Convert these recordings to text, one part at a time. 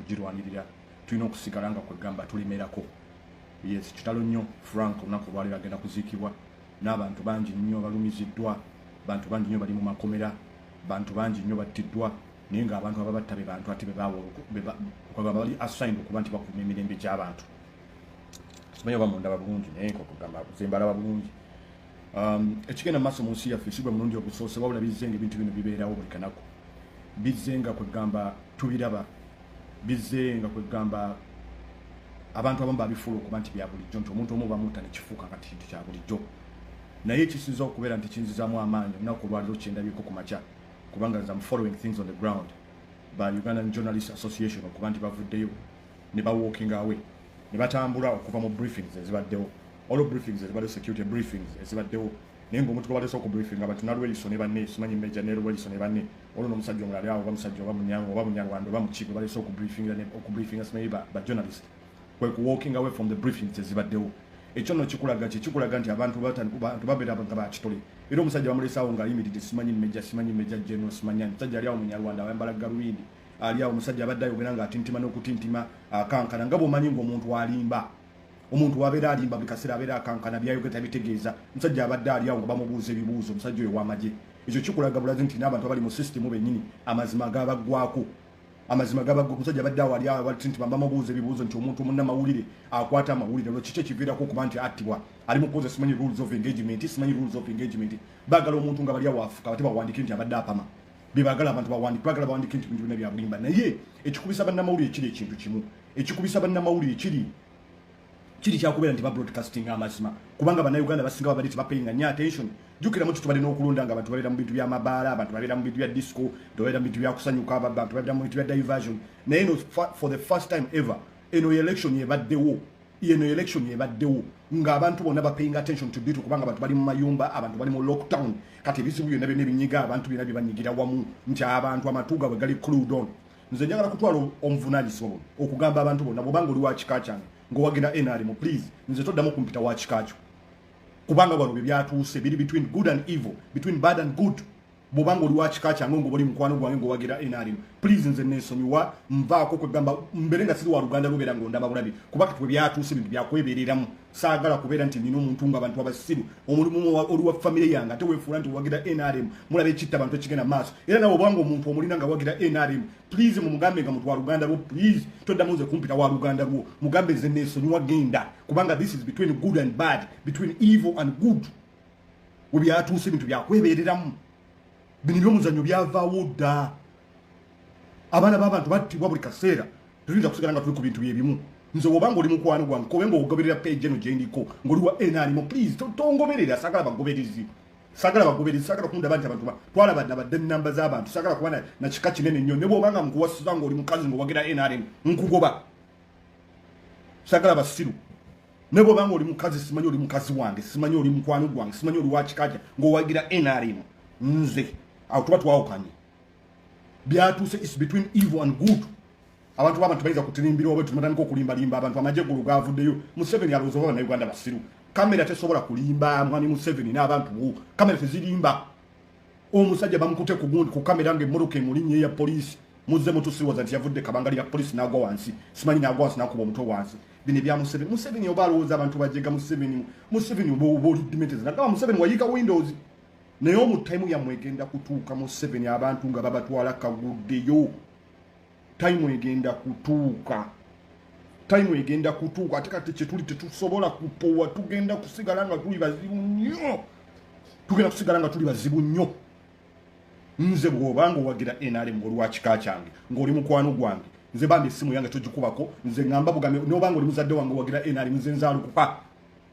kugirwanirira tulina okusigala nga kwegamba tulimerako yes kitalo nnyo frank olunaku olwaliro agenda kuziikibwa n'abantu bangi nnyo balumiziddwa bantu bangi nnyo bali mu makomera bantu bangi nnyo battiddwa naye ngaabantu ababatta be bantu ate bebawbali assigned okuba nti bakuuma emirembe gy'abantu simanyi oba mundaba bulungi naye nkokugamba zembalaba bulungi um, ekigenda maaso mu nsi yaffe sigwe mulundi ogusoose wabula bizzenga ebintu bino bibeerawo buli kanaku bizzenga kwegamba tubiraba bizzenga kwegamba abantu abamu babifuula okuba nti byabulijjo nti omuntu omu bamuta nekifuuka kati kintu kya bulijjo naye ekisinza okubeera nti kinzizamu amaanyi olunaku olwaliro kyendabyeko ku makya kubanga am following things on the ground by ugandan journalist association okuba nti bavuddeyo ne ba walking away ne batambula okuva mu briefings ezibaddewo olwo briefings ezibaddewo security briefings ezibaddewo naye ngaomuntu gwebaleese okubriefinga abantu nalweliso ne banne simanyi meja ne lweliso ne banne olwo nomusajja omulali awo oba musajja oba munyanga oba munyarwanda oba muki gwebaleese okubriefinga okubriefinga simanyi bajournalist kwe ku walking away from the briefings ezibaddewo ekyo no kikulaga kye kikulaga nti abantu babeera nga bakitole era omusajja bamuleesaawo ngaayimiridde simanyi meja simanyi meja geno simanyi musajja ali awo munyarwanda ayambala galubindi ali awo omusajja abadde ayogera nga atintima n'okutintima akankana nga bwomanyi nga omuntu alimba omuntu wabeera alimba buli kaseera abeera akankana byayogera tabitegeeza omusajja abadde ali awo nga bamubuuza ebibuuzo omusajja oyo wamagye ekyo kikulaga bulazi nti n'abantu abali mu sisitemu bennyini amazima gabaggwako amazima gabagwa omusajja abadde awo ali awo abatintima bamubuuza ebibuuzo nti omuntu munnamawulire akwata amawulire olwo kiki ekiviirako okuba nti attibwa ali mukubuuza simanyi rules of engagement simanyi rules of engagement baagala omuntu nga bali awo afuka bate bawandiike nti abadde apama bebagala abantu bawandike bagala bawandike nti bintu byona byabulimba naye ekikubisa bannamawulire kiri ekintu kimu ekikubisa bannamawulire kiri kiri kyakubeera nti babroadcasting amazima kubanga banauganda basinga babadde tibapayinga nyo attention jukiramu ti tubadde n'okulonda nga abantu babeera mu bintu byamabaala abantu babeera mu bintu bya disco tubabeera mu bintu byakusanyuka abantu babeera mu bintu bya diversion naye no for the first time ever eno election ebaddewo yeno election ebaddewo nga abantu bona bapaying attention to due kubanga abantu bali mu mayumba abantu bali mu lockdown kati ebizibu byonna byonna ebinyiga abantu byonna byebanyigira wamu nti abantu amatu gabwe gali clued on nze njagala kutwala omuvunanyisibwa bona okugamba abantu bona bwobanga oli wakika kyange ngaowagenda nrm please nze toddamu kumpita wakika kyo kubanga wano bye byatuuse biri between good and evil between bad and good bwoba nga oli wa kika kyange ngoba oli mukwano gwange ngowagira nrm please nze nensonyiwa nvaako kwegamba mbere nga siri wa luganda lubeera nga ondaba bulabi kuba kati webyatuuse bintu byakwebereramu saagala kubeera nti nina omuntu nga abantu abasiru omulimu oli wa famire yange ate wefuula nti owagira nrm mulaba ekitta abantu ekigenda maaso era nawe obanga omuntu omulina nga wagira nrm please mumugambe nga muntu wa luganda lwo please toddamu nze kumpita wa luganda lwo mugambe nze nensonyiwa genda kubanga this is between good and bad between evil and good webyatuuse ebintu byakwebereramu bino ebyomuzanyo byavaawo dda abaana b'abantu battibwa buli kaseera tetuyinza kusigala nga tuli ku bintu byebimu nze wobanga oli mukwano gwange kobe nga ogoberera page eno gyendiko ngaoli wa nrm please tongoberera sagala bagoberezi sagala bagoberezi sagala kundaba nti abantu twalaba nabadde namba z'abantu sagala kuba nakika kinene nnyo ne bwobanga nkuwasiza ngaoli mukazi ngaowagira nrm nkugoba sagala basiru naye bwoba nga oli mukazi simanyi oli mukazi wange simanyi oli mukwano gwange simanyi oli wakikaja ngaowagira nrm nze awo tuba twawukanye byatuuse is between evil and good abantu babantu bayinza kutirimbira oba tumatandika okulimbalimba abantu amagye gulu gavuddeyo museveni alowooza oba banauganda basiru kamera tesobola kulimba mwami museveni n'abantu wo kamera tezirimba omusajja bamukute kugundi ku kamera nga emmotoka emulinya eya poliisi muzze mutusiwoza nti yavudde kabangali ya polisi n'agwa wansi simanyi n'agwa wansi n'akuba omutwe wansi bino ebya museveni museveni oba alowooza abantu bajega museveni museveni oba oba oli dimetezi nagamba museveni wayiika windows naye omutaimu yammwe egenda kutuuka museveni abantu nga babatwala kaguddeyo taimu egenda kutuuka taimu egenda kutuuka ate kati kyetuli tetusobola kupowa tugenda kusigala nga tuli bazibu nnyo tugenda kusigala nga tuli bazibu nnyo nze bwobanga owagira nrm olwakika kyange ngaoli mukwano gwange nze bambi esimu yange togikubako nze ngamba bugambe nobanga oli muzadde wange owagira nrm nze nzalukupa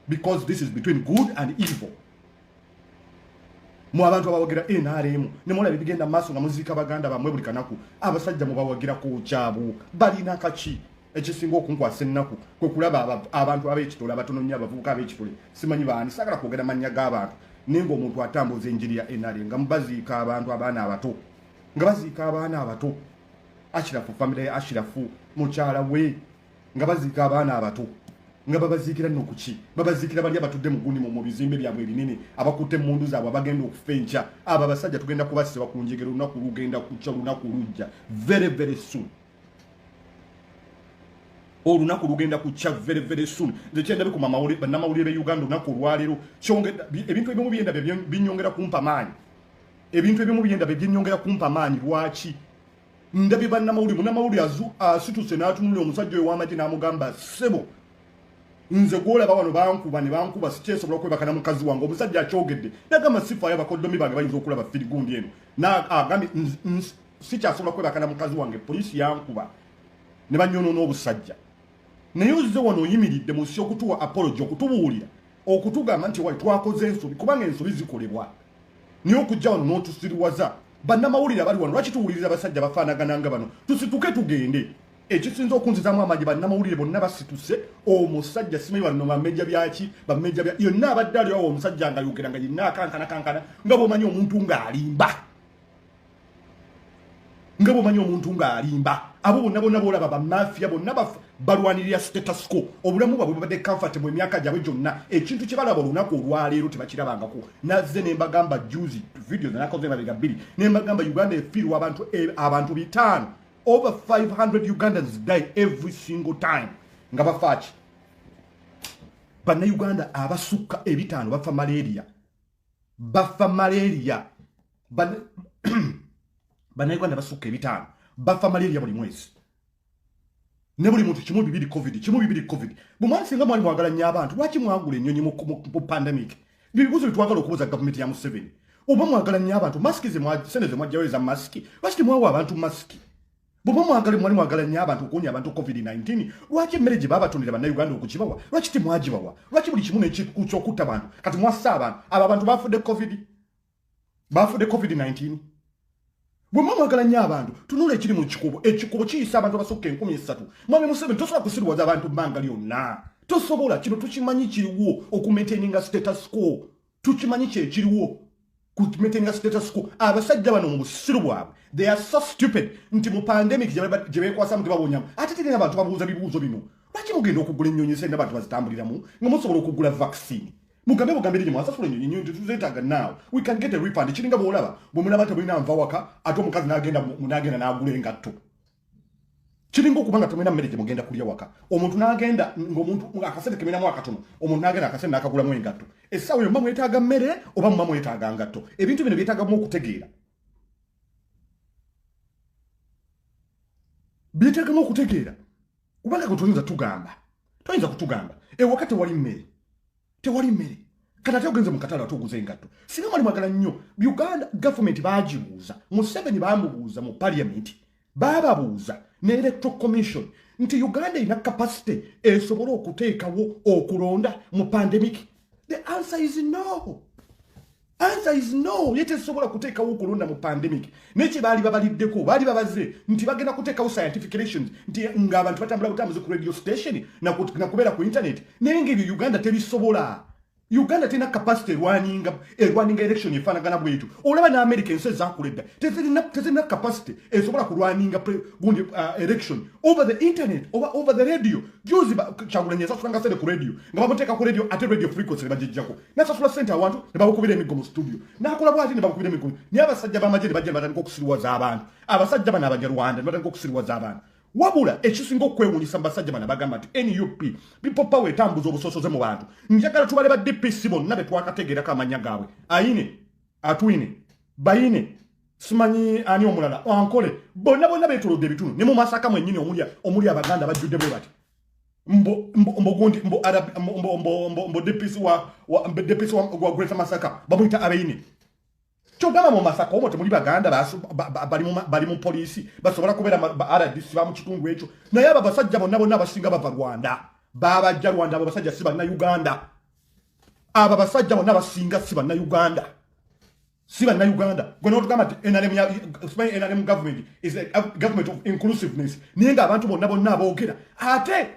because this is between good and evil mu abantu abawagira nrm nemulaba ebigenda maaso nga muziika baganda bamwe buli kanaku abasajja mubawagira ku kyabu balina kaki ekisinga okunkwasa ennaku kwe kulaba abantu ab'ekitole abatono nnyo abavubuka ab'ekitole simanyi baani saagala kwogera mannya g'abantu naye ng'omuntu atambuza enjiri ya nra nga mubaziika abantu abaana abato nga baziika abaana abato ashirafu famire ya ashirafu mukyala we nga baziika abaana abato nga babaziikira nno kuki babaziikira bali abatudde mu gunimu mu bizimbe byabwe ebinene abakutte emmundu zaabwe abagenda okufa enkya abo abasajja tugenda kubasiba ku njegera olunaku lugenda kukya olunaku lujja very very soon olunaku lugenda kukya very very soon nze kyendabe ku bannamawulire be uganda olunaku olwaleero ebintu ebimu byenda binyongera kumpa maanyi ebintu ebimu byenda byenyongera kumpa maanyi lwaki ndabye bannamawulire munamawulire asituse n'atunulira omusajja oyo w'amagye n'amugamba sebo nze gwolaba wano bankuba ne bankuba sikyesobola okwebakana mukazi wange omusajja akyogedde nagamba sifaayo abakoddomi bange bayinza okulaba firigundi eno agambye sikyasobola kwebaka na mukazi wange poliisi yankuba ne banyonoona obusajja naye ozze wano oyimiridde mu nsi okutuwa apology okutubuulira okutugamba nti wali twakoze ensobi kubanga ensobi zikolebwa naye okujja wano n'otusiriwaza bannamawulire abali wano lwaki tuwuliriza abasajja bafaanagana nga bano tusituke tugende ekisinza okunzizamu amaanyi bannamawulire bonna basituse omusajja simanyi banno bamejja byaki bamejja bya yonna abadde aliwo omusajja nga yogera nga yenna akankana kankana nga bwomanyi omuntu ng'alimba nga bwomanyi omuntu ng'alimba abo bonna bonna boolaba bamafiya bonna balwanirira statusco obulamu bwabwe babadde comfortable emyaka gyabwe gyonna ekintu kye balaba olunaku olwaleero tebakirabangako nazze ne mbagamba juzi video zanakoze mabega bbiri ne mbagamba uganda efiirwa abantu eh, abantu bitaano over 500 ugandans die every single time nga bafaaki bannayuganda abasukka ebitaano bafa malaria bafa malaria banauganda basukka ebitaano bafa malaria buli mwezi ne buli muntu kimu bibiri covid kimu bibiri covid bumwani singa mwali mwagala nnyo abantu lwaki mwagula ennyonyi mu pandemic byebibuzo byetwagala okubuza gavumenti ya museveni oba mwagala nnyo abantu masiki sente ze mwajjawo eza masiki lwaki temwawa abantu masiki bwoba mwagale mwali mwagala nnyo abantu okuwonya abantu covid-19 lwaki emmere gye baabatondera bannauganda okugibawa lwaki temwagibawa lwaki buli kimu nekyokutta abantu kati mwassa abantu abo abantu bafudde covid bafudde covid-19 bwemwa mwagala nnyo abantu tunula ekiri mu kikubo ekikubo kiyisa abantu abasukka enkumi esatu mwami museveni tosobola kusiriwaza abantu bbanga lyonna tosobola kino tukimanyi kiriwo okumaintaininga status quo tukimanyi kyekiriwo kumaintainga status quo abasajja bano mu busiru bwabwe they are so stupid nti mu pandemic gye bekwasamu tebabonyamu ate tegenda abantu babuuza bibuuzo bino lwaki mugenda okugula ennyonyi sente abantu bazitambuliramu nga musobola okugula vaccine mugambe bugambe rinyi mwasasula enyonyi nyonyi tuzetaga now we can get a refund kiringa bwolaba bwemulaba temulina nva waka ate omukazi nagenda munagenda nagula engatto kiringa okuba nga temulina mmere gyemugenda kulya waka omuntu n'agenda ngaomuntu akasente keminamu akatono omuntu n'agenda akasente n'akagulamu engatto essaawa eyo muba mwetaaga mmere oba muba mwetaaga ngatto ebintu bino byetaagamu okutegeera byetaagamu okutegeera kubanga gwe toyinza tugamba toyinza kutugamba ewaka tewali mmere tewali mmere kati ate ogenze mukatale ate oguza engatto singa mwali mwagala nnyo uganda gavumenti bagibuuza museveni bamubuuza mu paliamenti baababuuza ne electoral commission nti uganda erina kapasite esobole okuteekawo okulonda mu pandemic the answer is no Answer is no. Yete sobola kuteka uko lunda mu pandemic. Neche bali babali deko. Bali babaze. Nti bagena kuteka u scientific relations. Nti nga abantu batambula utamuzi ku radio station. Na, kut, na kubera ku internet. Nengi yu Uganda tebi sobola. Uganda tena capacity rwani inga. E eh, rwani inga election ye fana gana buetu. Olaba na America nse za kuleda. Tese na, tese na capacity. E sobola ku rwani inga pre, gundi, uh, election. Over the internet. Over, over the radio. Juzi ba, chagula nyesa suranga sede ku radio. Nga baboteka ku radio. Ate radio frequency. Nga jijako. nasasula sente awantu nebabukubira emiggo mu situdio nakola bwati nebabukubira emiggo naye abasajja bamagye nebajja nebatandika okusiriwaza abantu abasajja bano abanyarwanda nebatandika okusiriwaza abantu wabula ekisinga okwewunyisa mu basajja bano bagamba nti nup people power etambuza obusosoze mu bantu njagala tubale ba dpc bonna betwakategerako amanya gaabwe ayine atwine bayine simanyi ani omulala ankole bonna bonna betolodde ebitundu ne mu masaka mwenyini omuli abaganda bajjudde bwe bati mbo mbo mbo gundi mbo arab mbo mbo mbo mbo mbo depisi wa wa mbo depisi wa wa greater masaka bamuita abeini chogama mu masaka omo temuli baganda basu bali mu bali mu police basobora kubera ba rdc ba mu kitungu echo na yaba basajja bonna bonna basinga bava rwanda baba ja rwanda abo basajja siba na uganda aba basajja bonna basinga siba na uganda si bannayuganda gwe notugamba nti nrm government is a government of inclusiveness naye nga abantu bonna bonna aboogera ate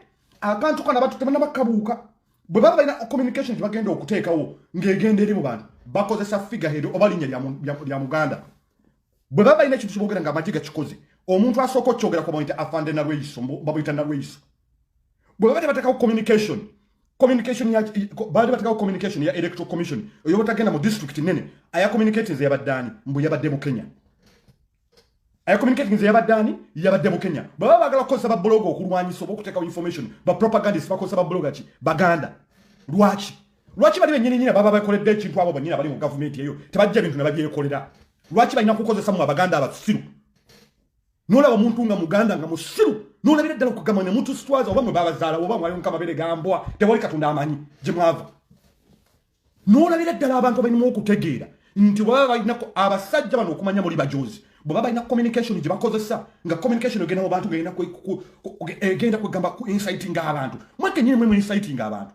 akantu kana batu tebanabakabuuka bwe baba balina communication gyebagenda okuteekawo ng'egenda eri mu bantu bakozesa figahedo oba linnya lya muganda bwe baba balina ekintu kyeboogera nga amagye gakikoze omuntu asooka okukyogerako bamuyita afande nalweyiso babuyita nalweyiso bwebaba tebatekawo communication communication ya baali batekawo communication ya electoral commission oyo batagenda mu district nene aya communicating ze yabadde ani mbu yabadde mu kenya aya communicating ze yabadde ani yabadde mu kenya bwebaba bagala kukozesa babuloga okulwanyisa oba okutekawo information bapropagandist bakozesa babuloga ki baganda lwaki lwaki bali benyini nyina baba bakoledde ekintu abo banyina bali mu gavumenti eyo tebajja bintu ne babyekolera lwaki balina kukozesa mu abaganda abasiru nolaba omuntu nga muganda nga musiru nolabira ddala okugamba ne muntu sitwaza oba mwe babazaala oba mwali muka mabere gambwa tewali katonda amanyi gye mwava nolabira ddala abantu abalinamu okutegeera nti bwebaba balinako abasajja bano okumanya muli bajozi bwebaba balina communication gye bakozesa nga communication egenda mu bantu egenda kwegamba ku inciting abantu mwekenyini mwe mu inciting abantu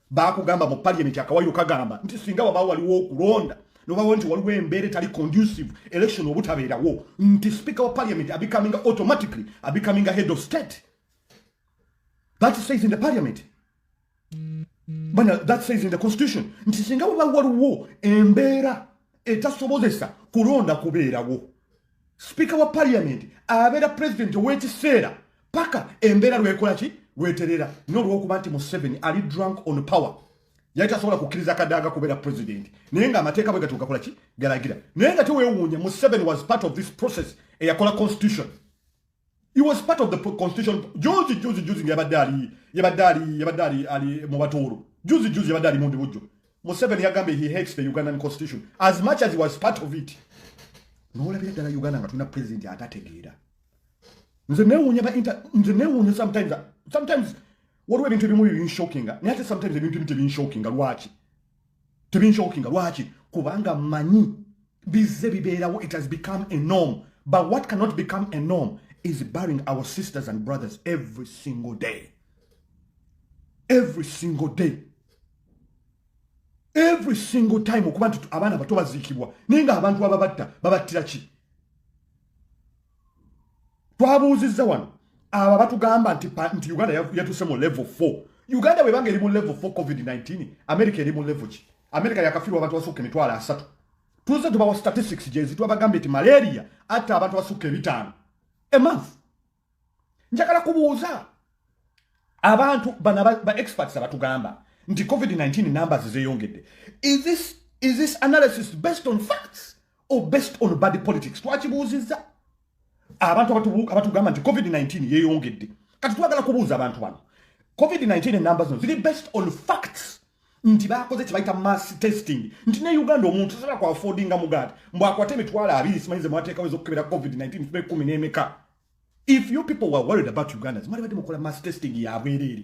bakugamba mu parliament akawayiro kagamba nti singa waba waliwo okulonda nobawo nti waliwo embeera etali conducive election obutabeerawo nti speaker wa parliament abecoming automatically abecoming a head of state that says in the parliament bana that says in the constitution nti singa waba waliwo embeera etasobozesa kulonda kubeerawo sipiika wa paliyamenti abeera pulezidenti ow'ekiseera paka embeera lwekola ki lweterera n'olwokuba nti museveni ali drunk on power yali tasobola kukkiriza kadaaga kubeera pulezidenti naye nga amateeka bwe gatuukakola ki galagira naye nga tewewuunya museveni was part of this process eyakola constitution He was part of the constitution. Juzi juzi juzi nge badali, ye badali, ye badali ali mubatoro. Juzi juzi badali mundi bujo. Museveni yagambe he hates the Ugandan constitution as much as he was part of it. Nola bila dala Uganda nga tuna president ya atate gira. Nze ne unya ba inter, nze ne unya sometimes, sometimes, what were into the movie in shocking? Nate sometimes the movie in shocking, wachi. tebinshokinga lwaki kubanga manyi bizze bibeerawo it has become a norm but what cannot become a norm is burying our sisters and brothers every single day every single day every single time okuba nti abaana bato baziikibwa naye nga abantu ababatta babattira ki twabuuzizza wano abo batugamba nti nti uganda yatuse mu level 4 uganda webanga eri mu level 4 covid-19 america eri mu level ki america yakafirwa abantu basukka emitwalo asatu tuze tubawa statistics gyezi twabagambye nti malaria atta abantu basukka ebitaano emonth njagala kubuuza abantu bana ba experts abatugamba nti covid-19 numbers zeyongedde is this, is this analysis based on facts or based on body politics twakibuuzizza abantu abatugamba nti covid-19 yeyongedde kati twagala kubuuza abantu bano covid-19 enamba zino ziri based on facts nti bakoze kyebayita mass testing nti ne uganda omuntu sobola ku affordinga mugaati mbu akwate emitwalo abiri simanyize mwateekawo ezokukebera covid-19 fube kumi n'emeka if you people were worried about ugandans mwali badde mukola mass testing yabwereere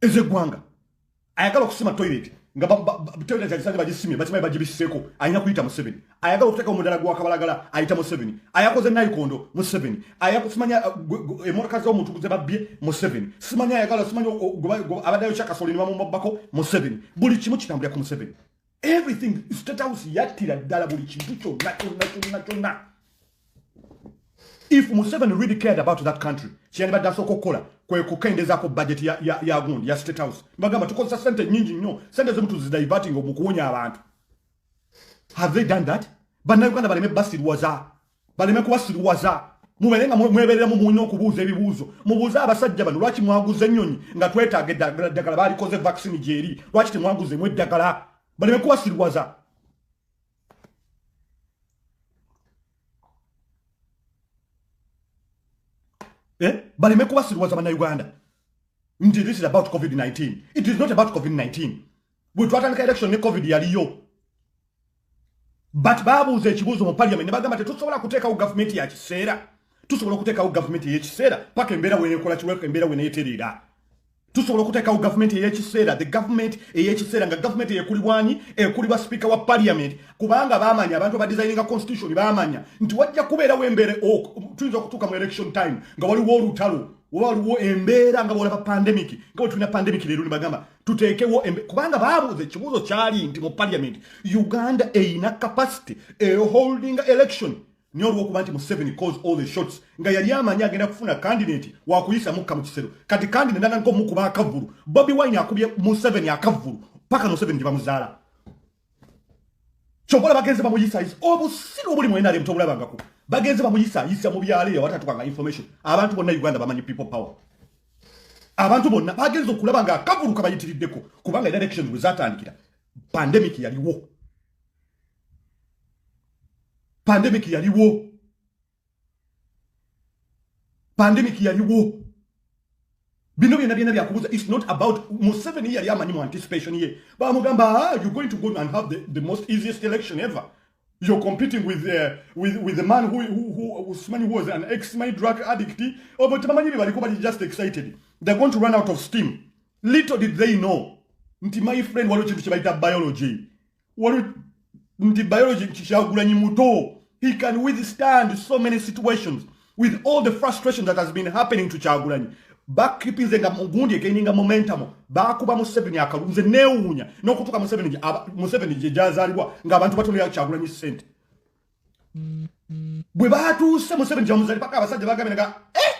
ezeggwanga ayagala okusima toilet nga toilet agisanze bagisimye bakimanyi bagibisseeko alina kuyita museveni ayagala okuteeka omudala gwakabalagala ayita museveni ayakoze nayikondo museveni ayakusimanya uh, emotoka zomuntu kuze babbye museveni simanya ayagala simanya abaddayo kyakasolini bamumabbako museveni buli kimu kitambulira ku museveni everything state house yattira ddala buli kintu kyonna kyonna kyonna kyonna if museveni really cared about that country kyeyandibadde asooka okukola kwe kukendezako budget ya, ya, ya gundi ya state house bagamba tukozesa sente nyingi nnyo sente zimu tuzidiverting mu kuwonya abantu have they done that bannayuganda baleme basirwaza baleme kubasiriwaza mubeere nga mwebereramu mulina okubuuza ebibuuzo mubuuze abasajja bano lwaki mwaguza ennyonyi nga twetaaga eddagala ddagala baalikoze vaccine gyeri lwaki temwaguzemu eddagala baleme kubasiriwaza eh? baleme kubasiriwaza banauganda nti this is about covid-19 it is not about covid-19 bwe twatandika election ne covid yaliyo but babuuza ekibuuzo mu parliament ne bagamba tetusobola kuteekawo gavumenti ya kiseera tusobola okuteekawo gavumenti ey'ekiseera paka embeera wenekola kiweka embeera weneetereera tusobola okuteekawo gavumenti ey'ekiseera the gavumenti ey'ekiseera nga gavumenti eyekulibwanyi ekulibwa sipiika wa parliament kubanga baamanya abantu abadisayininga constitution baamanya nti wajja kubeerawo embeera tuyinza okutuuka mu election time nga waliwo olutalo oba waliwo embeera nga bwolaba pandemic nga bwetulina pandemic leero ne bagamba tuteekewo kubanga baabuuza ekibuuzo kyali nti mu parliament uganda erina capacity eholding election nyo olwokuba nti museveni cause all the shots nga yali amanyi agenda kufuna candidate wakuyisa mukka mu kisero kati candidate naga nkomukuba akavulu bobi wine akubye museveni akavulu paka museveni gyebamuzaala kyokola bagenze bamuyisayisa obusiru obuli mwenare mutobulabangako bagenze bamuyisayisa mu byalo eyo awatatukanga information abantu bonna uganda bamanyi people power abantu bonna bagenze okulaba nga akavulu kabayitiriddeko kubanga elections bwe zatandikira pandemic yaliwo pandemic yaliwo pandemic yaliwo bino byona byona byakubuza its not about museveni yali amanyi mu anticipation ye bamugamba ah, you're going to go and have the, the most easiest election ever you're competing with the, uh, with, with the man who, who, who, who simanyi was an ex my drug addict obo tebamanyi bye baliko bali just excited they're going to run out of steam little did they know nti my friend waliwo kintu kye bayita biology wali nti biology kyagulanyi muto he can withstand so many situations with all the frustration that has been happening to kyagulanyi bakipinze nga mugundi ekeninga momentum bakuba museveni akalunze newunya nokutuka museveni museveni jejazalibwa nga abantu batonera kyagulanyi sente bwe batuuse museveni jamuzali paka abasajja bagabe nga eh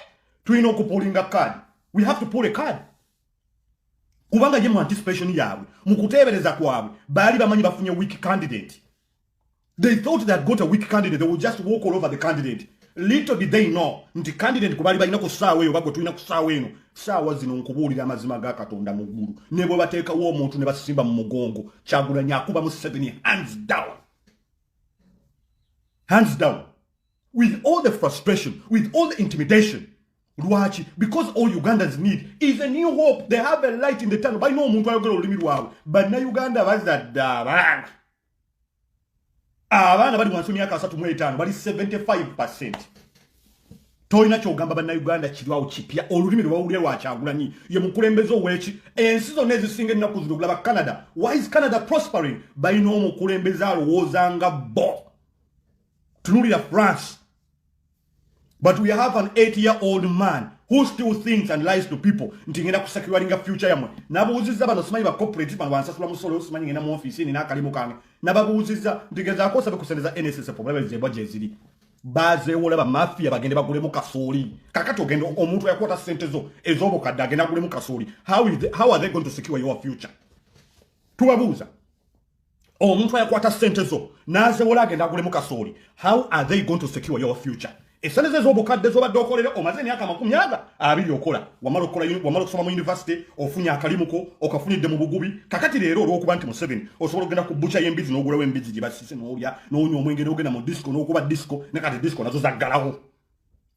tulina okupulinga card we have to pull a card kubanga ye mu anticipation yaabwe mu kuteebereza kwabwe baali bamanyi bafunye weak candidate they thought they had got a weak candidate they would just walk all over the candidate little did they know nti candidate gwe baali balina ku ssaawa eyo bagwe tulina ku ssaawa eno ssaawa zino nkubuulira amazima ga katonda mu ggulu ne bwe bateekawo omuntu ne basimba mu mugongo kyagulanya akuba mu seven hands down hands down with all the frustration with all the intimidation lwaki because all ugandans need is a new hope they have a light in the tunnel balina omuntu ayogera olulimi lwabwe bannauganda bazadde abaana abaana bali wansi myaka asatu mu etaano bali 75 percent tolina kyogamba bannauganda kirwawo kipya olulimi lwewawulira lwakyagulanyi ye mukulembeze oweki ensi zonna ezisinga ennaku zino okulaba canada why is canada prospering balina omukulembeze alowooza nga bo tunulira france but we have an eight year old man who still thinks and lies to people nti ngenda kusakiwalinga future yamwe nabuuziza bano simanyi ba corporate bano bansasula musolo yo simanyi ngenda mu office nina akalimu kange nababuuziza nti ngezaako osabe ku sente za nss problem zebwa gyeziri bazewola bamafia bagende bagulemu kasooli kakati ogenda omuntu yakwata sente zo ezobukadde agenda agulemu kasooli how, how are they going to secure your future tubabuuza omuntu ayakwata sente zo nazewola agenda agulemu kasooli how are they going to secure your future esente ze zobukadde zobadde okolera omaze emyaka amakumi aga abiri okola wamala okukola wamala okusoma mu yunivasite ofunye akalimuko okafunidde mu bugubi kakati leero olwokuba nti museveni osobola okugenda ku bucha y'embizi n'ogulawo embizi gye basise n'olya n'onywa omwenge n'ogenda mu disco n'okuba disco ne kati disco nazo zaggalawo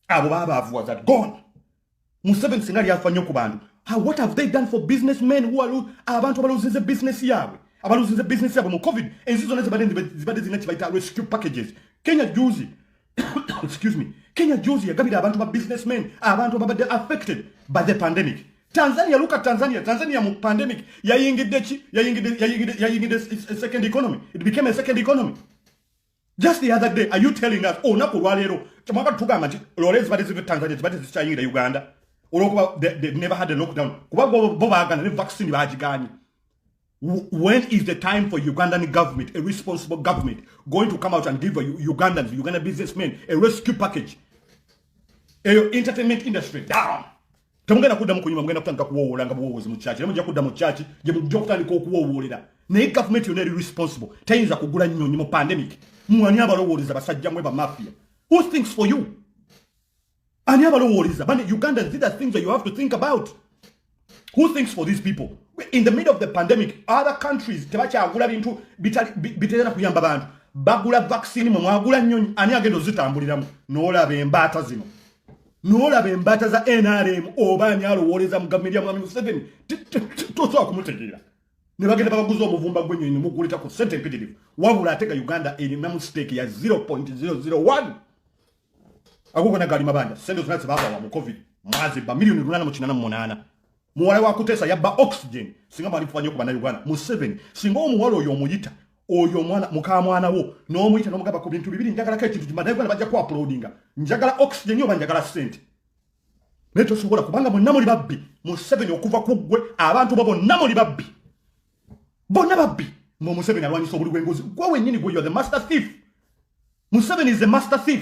abo babaavuwa that gone museven singa lyafa nnyo ku bantu what have they done for business men who are abantu abaluzinze business yaabwe abaluzinze business yaabwe mu covid ensi zonna zibadde zirina kibayita rescue packages kenya juzi excuse me kenya juzi yagabira abantu ba business men abantu ababadde affected by the pandemic tanzania look at tanzania tanzania mu pandemic yayingidde ki yayingidde second economy it became a second economy just the other day are you telling us olunaku oh, olwaleero kyemwaka tugamba nti loole zibadde ziva tanzania zibadde zikyayingira uganda olwokuba never had a lockdown kuba bo bagana ne vaccine bagiganye when is the time for ugandan government a responsible government going to come out and give ugandans uganda businessmen a rescue package eyo entertainment industry down temugenda kudda mu kunyuma mugenda kutandika kuwowoola nga buwowoozi mu kyaki naye mujja kudda mu kyaki gye mujja okutandika okuwowoolera naye gavumenti yonna eri responsible tayinza kugula nnyonyi mu pandemic mwani abalowooleza basajja mwe bamafia who thinks for you ani abalowooleza bane uganda these are things that you have to think about who thinks for these people in the middle of the pandemic other countries tebakyagula bintu biterera kuyamba bantu bagula vaccine mwe mwagula nnyonyi ani agenda ozitambuliramu noolaba embaata zino nolaba embata za nrm oba ani alowooleza mu gavumenti ya mwami museveni tosobola kumutegeera ne bagenda babaguza omuvumba gwenyonyi nemuguleta ku sente empitirivu wabula atega uganda erina mu siteeki ya 0.001 agogona gaali mabanda sente zona zebabawa mu covid mwazi ba miliyoni lunana mu kinana mu munaana muwala wa kutesa yabba oxygen singa mwali mufuba nyo ku bannayuganda museveni singa omuwala oyo omuyita oyo omwana mukamwana wo n'omuyita n'omugamba ku bintu bibiri njagalako ekintu bannayuganda bajja ku apulodinga njagala oxygen oba njagala sente naye tosobola kubanga bonna muli babbi museveni okuva ku ggwe abantu bo bonna muli babbi bonna babbi nga omuseveni alwanyisa obuli bwengozi gwe wenyini gwe yo the master thief museveni is the master thief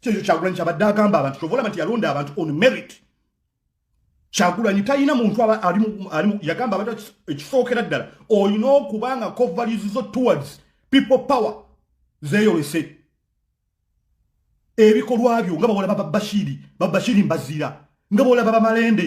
kyekyo kyagulanyi kyabadde agamba abantu kyova olaba nti yalonda abantu on merit kyagulanyi talina muntu alimu yagamba abantu ekisookera ddala olina okuba nga covaries zo towards people power zeyolese ebikolwa byo nga bawolaba babashiri babashiri mbaziira nga bawolaba bamalende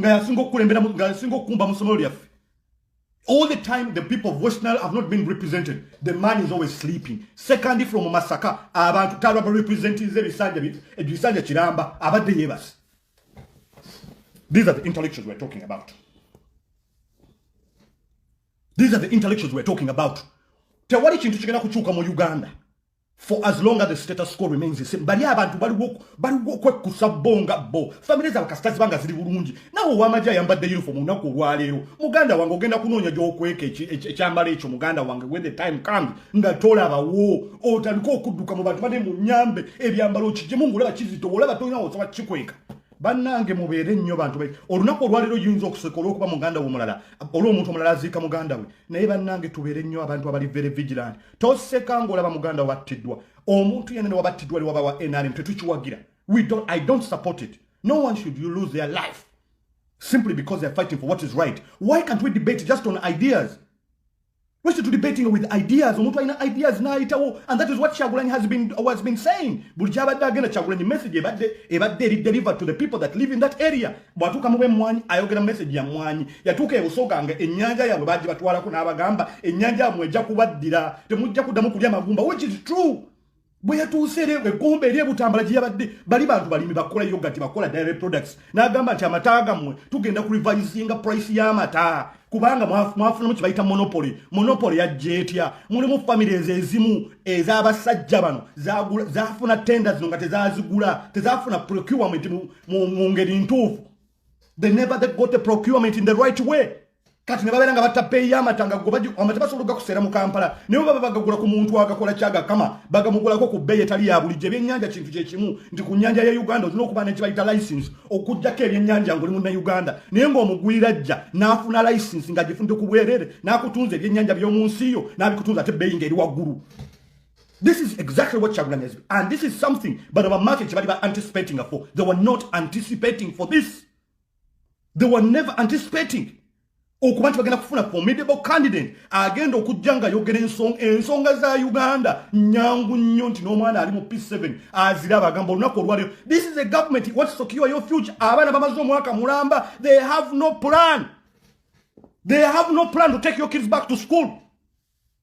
nga yasinga okukulembera nga yasinga okukumba mu ssomero lyaffe all the time the people of west nile have not been represented the man is always sleeping second from masaka abantu talwa ba representing ze bisanja bi ebisanja kiramba abadde yebas these are the intellectuals we're talking about these are the intellectuals we're talking about tewali kintu kigenda kuchuka mu uganda for as long as the status quo remains the same bali abantu baliwo okwekkusa bo nga bo famire zaabwe kasita ziba nga ziri bulungi nawe owamagye ayambadde uniform olunaku olwaleero muganda wange ogenda kunoonya gyokweka ekyambalo ekyo muganda wange when the time comes nga tolabawo otandika okudduka mu bantu bane mu nyambe ebyambalo kigimu ngaolaba kizito olaba tolina osoba kikweka bannange mubeere nnyo bantu be olunaku olwaleero yinza okuseka olwokuba muganda we omulala olwomuntu omulala aziika muganda we naye bannange tubeere nnyo abantu abali very vigilant toseka ng'olaba muganda wabattiddwa omuntu yenene wabattiddwa li waba wa nrm tetukiwagira i don't support it no one should you lose their life simply because they're fighting for what is right why can't we debate just on ideas We're still debating with ideas. Omuntu alina ideas n'ayitawo and that is what Kyagulanyi has been, has been saying. Buli kyabadde agenda Kyagulanyi message ebadde ebadde eri deliver to the people that live in that area. bwatuuka mu b'emmwanyi ayogera message ya mmwanyi yatuuka ebusoga nga ennyanja yaabwe baaji batwalako n'abagamba ennyanja yabwe ejja kubaddira temujja kuddamu kulya magumba which is true bwe yatuuse eri egomba eri ebutambala gye yabadde bali bantu balimi bakola yogati bakola dairy products n'agamba nti amata gammwe tugenda ku revisinga price y'amata kubanga mwafunamu kye bayita monopoly monopoly yajja etya mulimu families ezimu ez'abasajja bano zafuna tenda zino nga tezazigula tezafuna procurement mu ngeri ntuufu they never they got a procurement in the right way kati ne babeera nga batta peeyi y'amata nga amata basobola ogakuseera mu kampala naye baba bagagula ku muntu agakola kyagakama bagamugulako ku bbeeyi etali ya bulijjo ebyennyanja kintu kye kimu nti ku nnyanja ya uganda olina okuba nekibayita license okugjako ebyennyanja ngaoli mu nauganda naye ng'omugwira ajja n'afuna license ng'agifunide ku bwerere n'akutunza ebyennyanja by'omu nsi yo n'abikutunza ate bbeeyi ng'eri waggulu This is exactly what Chagulanyi has been. And this is something, but our market, they were anticipating for. They were not anticipating for this. They were never anticipating. okuba nti bagenda kufuna formidable candidate agenda okujja nga yogera ensonga ensonga za uganda nyangu nnyo nti n'omwana ali mu p7 azira abagamba olunaku olwaliro this is a government what secure your future abaana bamaze omwaka mulamba they have no plan they have no plan to take your kids back to school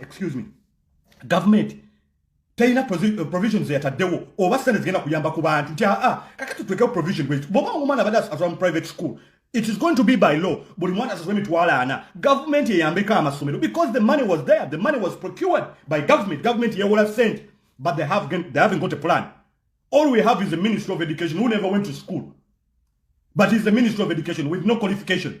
excuse me gavumenti teyina eh, provision zeyataddewo oba sente zigenda kuyamba ku bantu nti aa ah, ah, kakati tutekewo provision bwekyo bwoba omwana abadde asasula mu private school it is going to be by law buli mwana asasula emitwalo ana gavumenti eyambeko amasomero because the money was there the money was procured by government gavumenti yewola sente but they, have, they haven't got a plan all we have is a ministry of education who never went to school but is the ministry of education with no qualification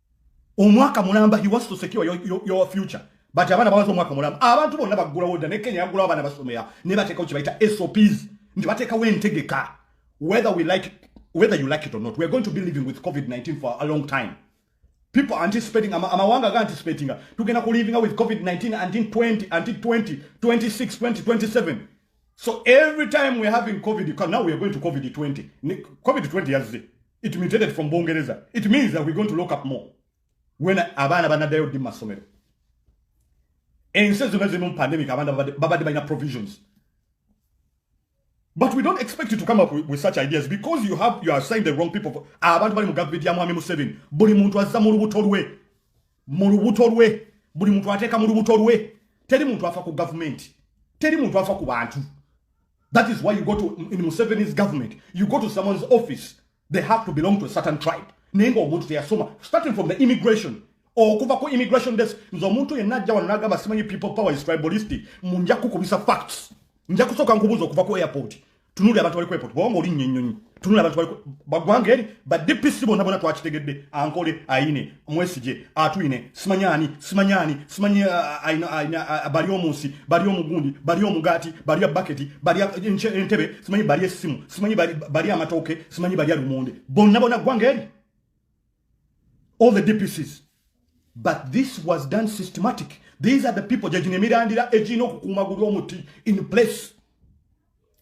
omwaka mulamba he wants to secure your, your, your future but abaana bawaza omwaka mulamba abantu bonna baggulawo dda ne kenya yaggulawo abaana basomera naye bateekawo kye bayita sops nti bateekawo entegeka whether we like whether you like it or not we're going to be living with covid-19 for a long time people are anticipating amawanga am ga anticipating tugenda ku living with covid-19 until 20 until 20 26 20 27 so every time we're having covid now we're going to covid-20 covid-20 yazze it mutated from bungereza it means that we're going to lock up more when abaana banadayo ddi masomero ensi zonna zirimu pandemic abaana babadde balina provisions but we don't expect you to come up with, with such ideas because you have you are saying the wrong people for abantu bali mu government ya mwami museveni buli muntu azza mu lubuto lwe mu lubuto lwe buli muntu ateeka mu lubuto lwe teri muntu afa ku gavumenti teri muntu afa ku bantu That is why you go to in Museveni's government, you go to someone's office, they have to belong to a certain tribe. Nengo omuntu teyasoma starting from the immigration okuva ku immigration desk nze omuntu yenna ajja wano n'agamba simanyi people power is tribalistic mu nja kukubisa facts nja kusooka nkubuuza okuva ku airport tunuli abantu bali ku airport bwewanga olinnya ennyonyi tunula abantu baliko bagwanga eri ba dpc bona bona twakitegedde ankole ayine mwesije atwine simanyani simanyani simanyi bali omunsi bali omugundi bali omugati bali abaketi bali entebe simanyi bali esimu simanyi bali amatoke simanyi bali alumunde bona bona gwanga eri all the dpcs but this was done systematic these are the people jajine mirandira ejino kukumaguru omuti in place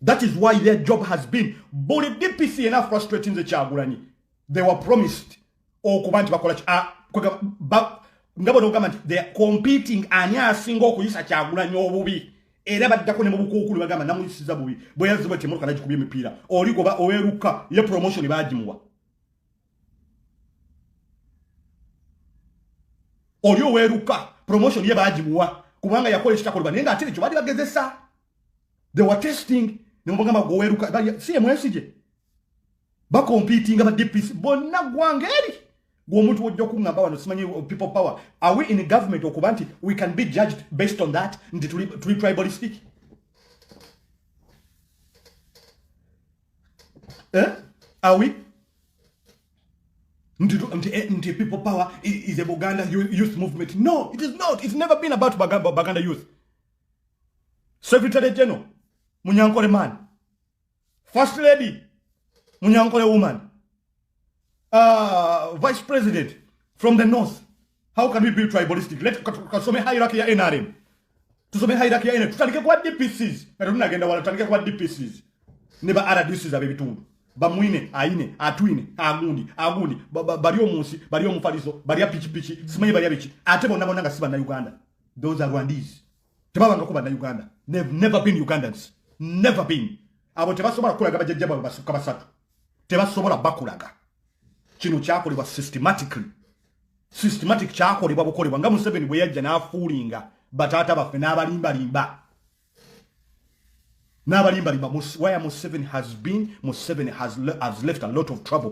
That is why their job has been bully DPC enough frustrating the Chagulani. They were promised. Oh, Kubanti Bakolach. Ah, Ngabo no government. They are competing. Anya single Kuyisa Chagulani Obubi. Era badako ne mubuku kulu bagamba namu isiza bubi. Boya ziba temo kana jikubi mipira. Ori goba oweruka ye promotion ibaji muwa. Ori oweruka promotion ye baji muwa. Kubanga yakole chitakolwa. Nenga atiri chubadi bagezesa. they were testing nemubagamba gweweruka si emwesije bakompitinga ba dpc bonna gwanga eri gwomuntu wojja okuŋamba wano simanyi people power are we in government okuba nti we can be judged based on that nti tuli, tuli tribalistic eh? are we nti, nti, eh, nti people power is a buganda youth movement no it is not it's never been about bagamba, baganda youth secretary general munyankole man first lady munyankole woman uh, vice president from the north how can we be tribalistic let kasome hierarchy ya nrm tusome hierarchy ya nrm tutandike kwa dpcs na tununa agenda wala tutandike kwa dpcs ne ba rdcs abe bitundu bamwine aine atwine agundi agundi bali omunsi bali omufalizo bali apichipichi simanyi bali abichi ate bona bona nga siba na uganda those are rwandese tebabangako banna uganda they've never been ugandans never been abo tebasobola kukulaga bajajja bwabwe basukka basatu tebasobola bakulaga kino kyakolebwa systematically systematic kyakolebwa bukolebwa nga museveni bwe yajja n'afuulinga bataata baffe n'abalimbalimba n'abalimbalimba where museveni has been museveni has, has left a lot of trouble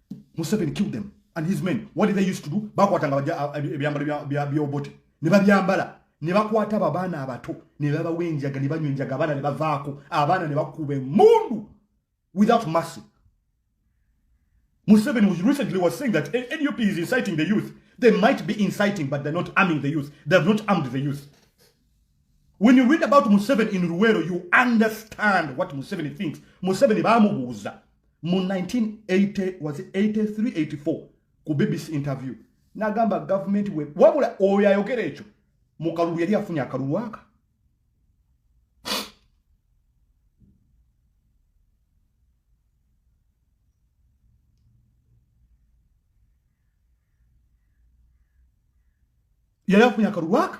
museveni kill them and his men what did they used to do bakwatanga uh, ebyambalo byobote ne babyambala ne bakwata babaana abato ne babawa enjaga ne banywa enjaga abaana ne bavaako abaana ne bakuba emundu without mercy museveni was recently was saying that nup is inciting the youth they might be inciting but they're not arming the youth they have not armed the youth when you read about museveni in ruwero you understand what museveni thinks museveni bamubuuza mu 1980 was 8384 ku bbc interview nagamba gavumenti we wabula oyo ayogera ekyo mu kalulu yali afunye akalulu aka yali afunye akalulu aka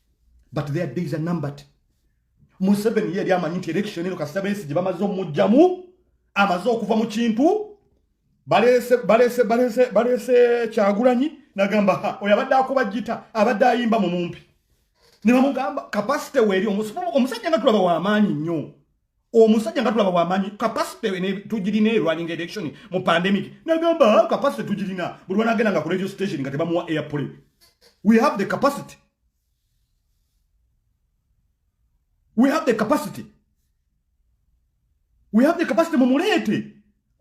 but their days are numbered museveni yeyali amanyi nti election eno kasita besi gye bamaze omujjamu amaze okuva mu kintu balese kyagulanyi nagamba ha oyo abadde akuba jita abadde ayimba mu mumpi nebamugamba kapasite weeri omusajja nga tulaba wamaanyi nnyo omusajja nga tulaba wamanyi kapasite tugirina erwaninga election mu pandemic nagamba ah, kapasite tugirina buli wanagenda nga ku radio station nga tebamuwa airpole we have the capacity we have the capacity we have the capacity mumuleete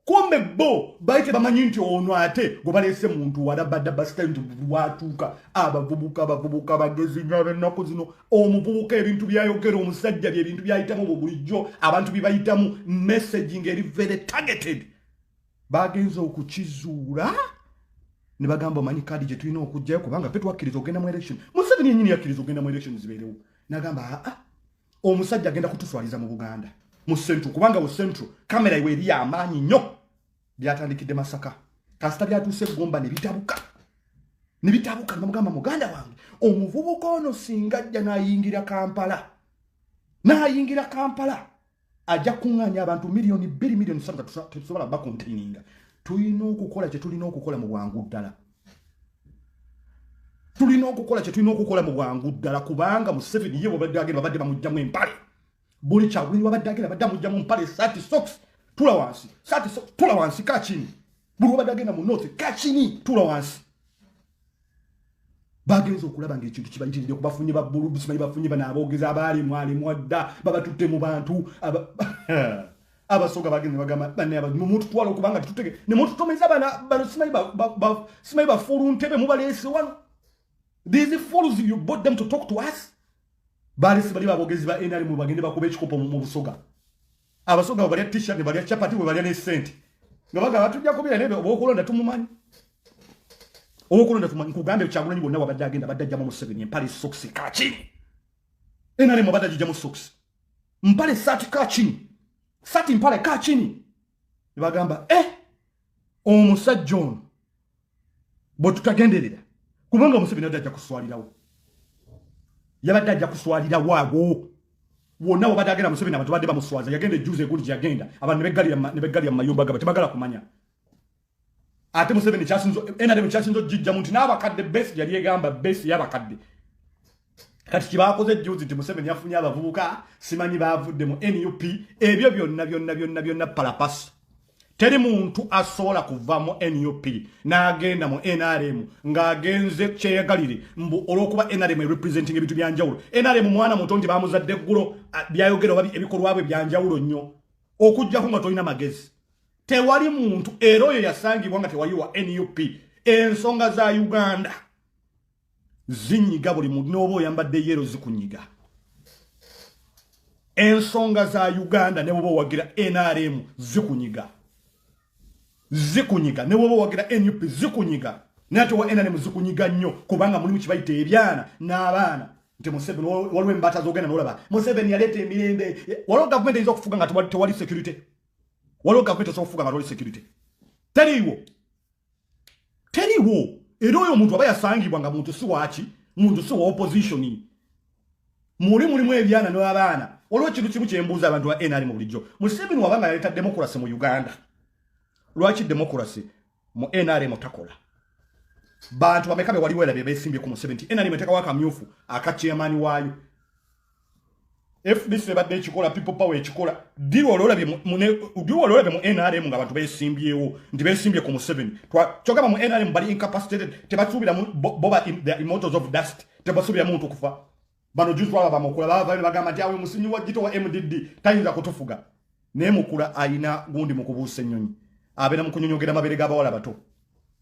kumbe bo bali tebamanyi nti ono ate gwe baleese muntu walabada basita nti watuuka abavubuka abavubuka bagezi nyo abennaku zino omuvubuka ebintu byayogera omusajja bye ebintu byayitamu bwe bulijjo abantu bye bayitamu messagi nga eri very targeted bagenza okukizuula ne bagamba omanyi kaadi gye tulina okugjayo kubanga fe twakkiriza okugenda mu election museveni yenyini yakkiriza okugenda mu election zibeerewo nagamba aa ah, ah. omusajja agenda kutuswaliza mu buganda mu central kubanga mu central kamera iwe eriyo amaanyi nnyo byatandikidde masaka kasita byatuuse egomba ne bitabuka ne bitabuka namugamba muganda wange omuvubuka ono singa ajja n'ayingira kampala n'ayingira kampala ajja kuŋŋaanya abantu miliyoni bbiri miliyoni satu tetusobola bakontaininga tulina okukola kye tulina okukola mu bwangu ddala tulina okukola kyetulina okukola mu bwangu ddala kubanga museveni ye babadde agenda babadde bamugjamu empale buli kyagulini babadde agenda badde amugjamu mpale sati sox tula wansi sati sox tula wansi kakini buli wabadde agenda mu north kakini tula wansi bagenza okulaba nga ekintu kibayitiride kubafunye babbulu bisimanyi bafunye banaabogeza abaali mwali mwadda babatutte mu bantu abasoga bagenda bagamba bane aba mu muntu twalo kubanga tutege ne muntu tomeza bana bano simayi ba, ba, ba simayi ba fulu ntebe mu balesi wano these fools you bought them to talk to us bali sibali babogezi ba enali mu bagende bakube ekikopo mu busoga abasoga bali t-shirt ne bali chapati we bali ne cent nga baga batu jako bile nebe okulonda tumumanyi okulonda tumumanyi kugambe chakula nyi bonna wabadde agenda badde jamu mu seven empali socks kachi enali mu badde jamu socks mpale sati ka chini sati mpale ka chini nebagamba e eh, omusajja ono bwetutagenderera kubanga omuseveni adde ajja kuswalirawo yabadde ajja kuswalirawo awo wonna wabadde agenda museveni abantu badde bamuswaza yagenda ejuuzi egundi gyeyagenda abantu nebeggalira mu mayumba gabwe tebagala kumanya ate museveni kyasinzo nrm kyasinza okugijjamu nti n'abakadde besi yali egamba besi y'abakadde kati kyebakoze juzi nti museveni yafunye abavubuka simanyi bavudde mu nup ebyo byonna byonna byonna byonna palapasi teri muntu asobola kuva mu nup n'agenda mu nrm ng'agenze kyeyagalire mbu olw'okuba nrm erepresenting ebintu byanjawulo nrm mwana muto nti bamuzadde eggulo byayogera oba ebikolwa bwe byanjawulo nnyo okujjako nga tolina magezi tewali muntu era oyo yasangibwa nga tewali wa nup ensonga za uganda zinyiga buli muntu nooba oyambadde yero zikunyiga ensonga za uganda ne bwoba owagira nrm zikunyiga zikunyiga ne bwoba owagira nup zikunyiga naye ate owa nrm zikunyiga nnyo kubanga mulimu kibayita ebyana n'abaana nti museveni waliwo embata zogenda nolaba museveni yaleeta emirembe waliwo gavumenti eyinza okufuga nga tewali security waliwo gavumenti osobola okufuga nga toli security teriiwo teriiwo era oyo omuntu aba yasangibwa nga muntu si waaki muntu si wa opposition muli mulimu ebyana n'abaana waliwo ekintu kimu kyembuuza abantu ba nrm bulijjo museveni wabanga yaleeta democracy mu uganda lwaki democracy mu nrm takola bantu bameka bewaliwo era bebesimbye ku museveni ti nrm etekawo akamyufu akakyemani waayo fdc ebadde ekikola people power ekikola diwa olwolabye mu nrm nga abantu besimbyewo nti besimbye ku museveni kyogamba mu nrm bali incapacitated tebasuubiramu boba the immortals of dust tebasuubira muntu kufa bano juzi waba bamukula bava bagamba nti awe musinyi wa gito wa mdd tayinza kutufuga naye mukula ayina gundi mu kubuusa ennyonyi abeera mu kunyonyogera mabere g'abawala bato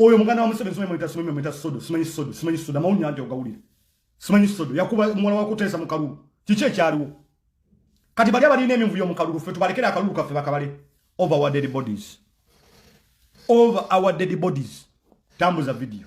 oyo muganda wa museveni simanyi mweta simanyi mweta sodo simanyi sodo simanyi sodo amawulire nti ogawulire simanyi sodo yakuba muwala wakuteesa mu kalulu kiki ekyaliwo kati bali abalina eminvuyo mu kalulu ffe tubalekere akalulu kaffe bakabale over our dead bodies over our dead bodies tambuza video